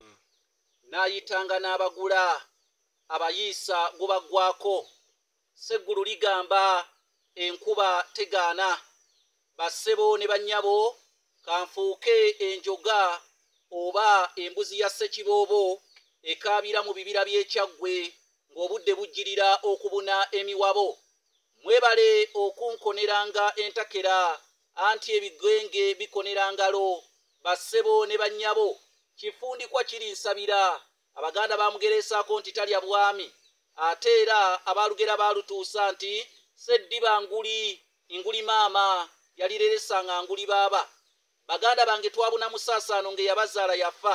hmm. n'ayitanga n'abagula abayiisa gubaggwako seggulu ligamba enkuba tegaana bassebo ne bannyabo kanfuuke enjoga oba embuzi ya ssekiboobo ekaabira mu bibira by'ekyaggwe ng'obudde bujjirira okubuna emiwabo mwebale okunkoneranga entakera anti ebigenge bikonera ngalo bassebo ne bannyabo kifundikwa kiri nsabira abaganda bamugereesaako nti talya bwami ate era abaalugera baalutuusa nti seddiba nguli nguli maama yalireresa nga nguli baaba baganda bange twabuna musaasaano ng'eyabazaala yafa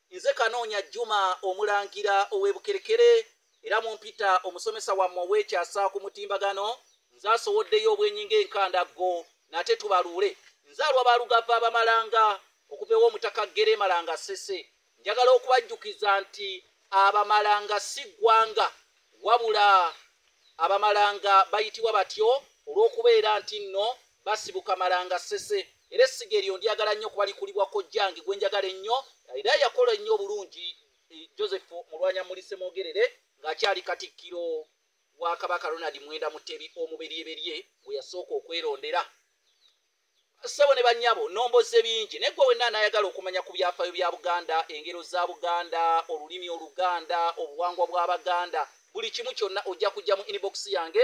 Nze Kanoonya Juma omulangira ow'e Bukerekere era mu mpita omusomesa wammwe ow'ekyasa ku mutimbagano nze asowoddeyo obwenyi ng'enkandaggo nate tubaluule nzaalwa balugava abamalanga okuva ewa omutaka ggere malanga ssese njagala okubajjukiza nti abamalanga si ggwanga wabula abamalanga bayitibwa batyo olw'okubeera nti nno basibuka malanga sese era essiga eryo ndyagala nnyo kuba likulibwa kojjange gwe njagala ennyo era yakola ennyo obulungi eh, joseph mulwanya mulise mwogerere ng'akyali katikkiro wa kabaka ronald mwenda mutebi omuberyeberye gwe yasooka okwerondera ssebo ne bannyabo nomboze bingi naye gwe wenna anayagala okumanya ku byafaayo bya buganda engero za buganda olulimi oluganda obuwangwa bw'abaganda buli kimu kyonna ojja kujja mu inibokisi yange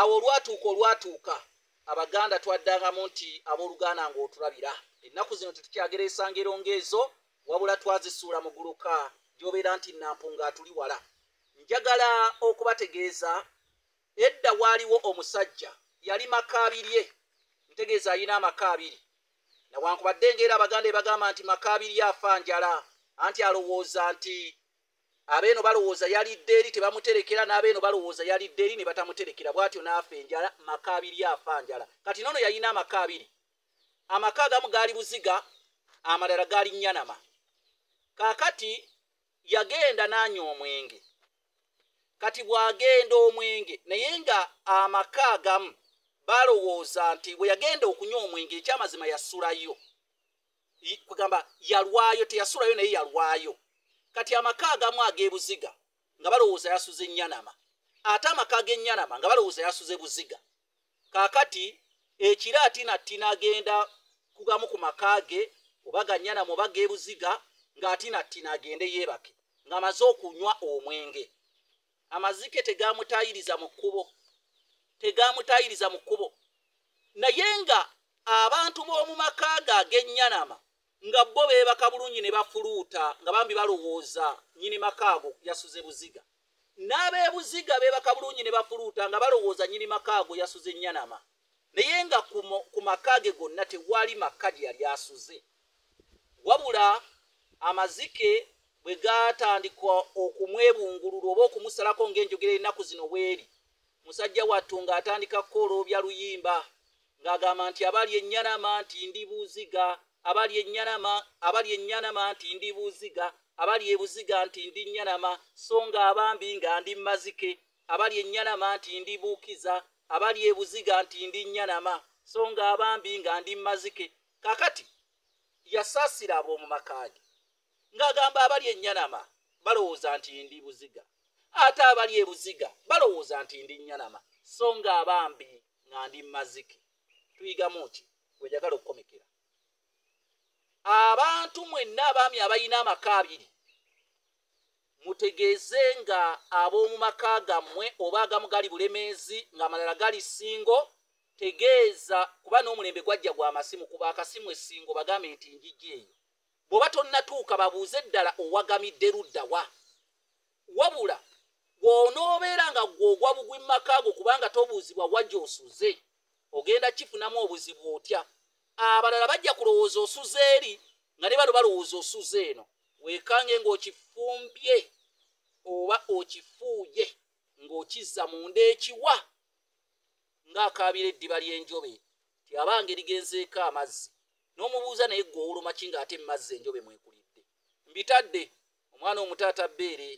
awo olwatuuka olwatuuka abaganda twaddangamu nti abooluganda ng'otulabira ennaku zino tetukyagera esangero ng'ezo wabula twazisuula mu guluka gy'obeera nti nampunga atuli wala njagala okubategeeza edda waaliwo omusajja yali maka abirye ntegeeza alina amaka abiri nawankubadde ngaera abaganda ebagamba nti maka abirye afa njala anti alowooza nti abeeno balowooza yalidde eri tebamuterekera n'abeeno balowooza yalidde eri ne batamuterekera bw'atyo n'afa enjala maka abiri afa njala kati noono yalina amaka abiri amaka agamu gaali buziga amalala gaali nnyanama kaakati yagenda n'anywa omwenge kati bw'agenda omwenge naye nga amaka agamu balowooza nti bwe yagenda okunywa omwenge ekyamazima yasulayo kugamba yalwayo teyasulayo naye yalwayo kati amaka agamu ag'ebuziga nga balowooza yasuze enyanama ate amaka ag'enyanama nga balowooza yasuze buziga kakati ekira atina tina agenda kugamu ku maka ge oba ganyanama oba g'ebuziga ng'atina tina agende yeebake ng'amaze okunywa omwenge amazike tegamutayiriza mu kkubo tegamutayiriza mu kkubo naye nga abantu b'omu maka ge ag'ennyanama nga bo beebaka bulungi ne bafuluuta nga bambi balowooza nyini maka ago yasuze buziga n'abeebuziga beebaka bulungi ne bafuluuta nga balowooza nyini maka ago yasuze ennyanama naye nga ku maka ge gonna tewali maka gye yali asuze wabula amazike bwe gaatandika okumwebungululwa oba okumusalako ng'enjogera ennaku zino bweri musajja wattu ng'atandika kukooloobya luyimba ng'agamba nti abali ennyanama nti ndi buziga abali ennyanama abali ennyanama nti ndi buziga abali ebuziga nti ndi nnyanama so nga abambi nga ndi mazike abali ennyanama nti ndi buukiza abali ebuziga nti ndi nnyanama so nga abambi nga ndi mazike kakati yasaasira ab'omu maka ge ng'agamba abali ennyanama balowooza nti ndi buziga ate abali ebuziga balowooza nti ndi nnyanama so ng'abambi nga ndi mazike tuyigamu ki wejagala okukomekera abantu mwenna abaami abalina amaka abiri mutegeeze nga ab'omu maka gammwe oba agamu gali bulemeezi ng'amalala gali ssingo tegeeza kuba n'omulembe gwajja gwa masimu kuba akasimu essingo bagambe nti njijja eyo bw'oba tonnatuuka babuuze ddala owagamidde ludda wa wabula gw'onoobeera nga gw'ogwa bugwi mu maka go kubanga tobuuzibwa wajja osuze ogenda kifunamu obuzibu otya abalala bajja kulowooza osuza eri nga ne bano balowooza osuza eno weekange ng'okifumbye oba okifuuye ng'okizza munda ekiwa ng'akaabira eddiba ly'enjobe ti abange ligenzeeko amazzi n'omubuuza naye gwe owulumaki ng'ate mumazzi enjobe mwekulidde mbitadde omwana omutaata bbeere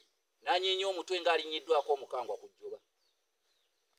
n'anyeenya omutwe ng'alinnyiddwako omukangwa ku jjoba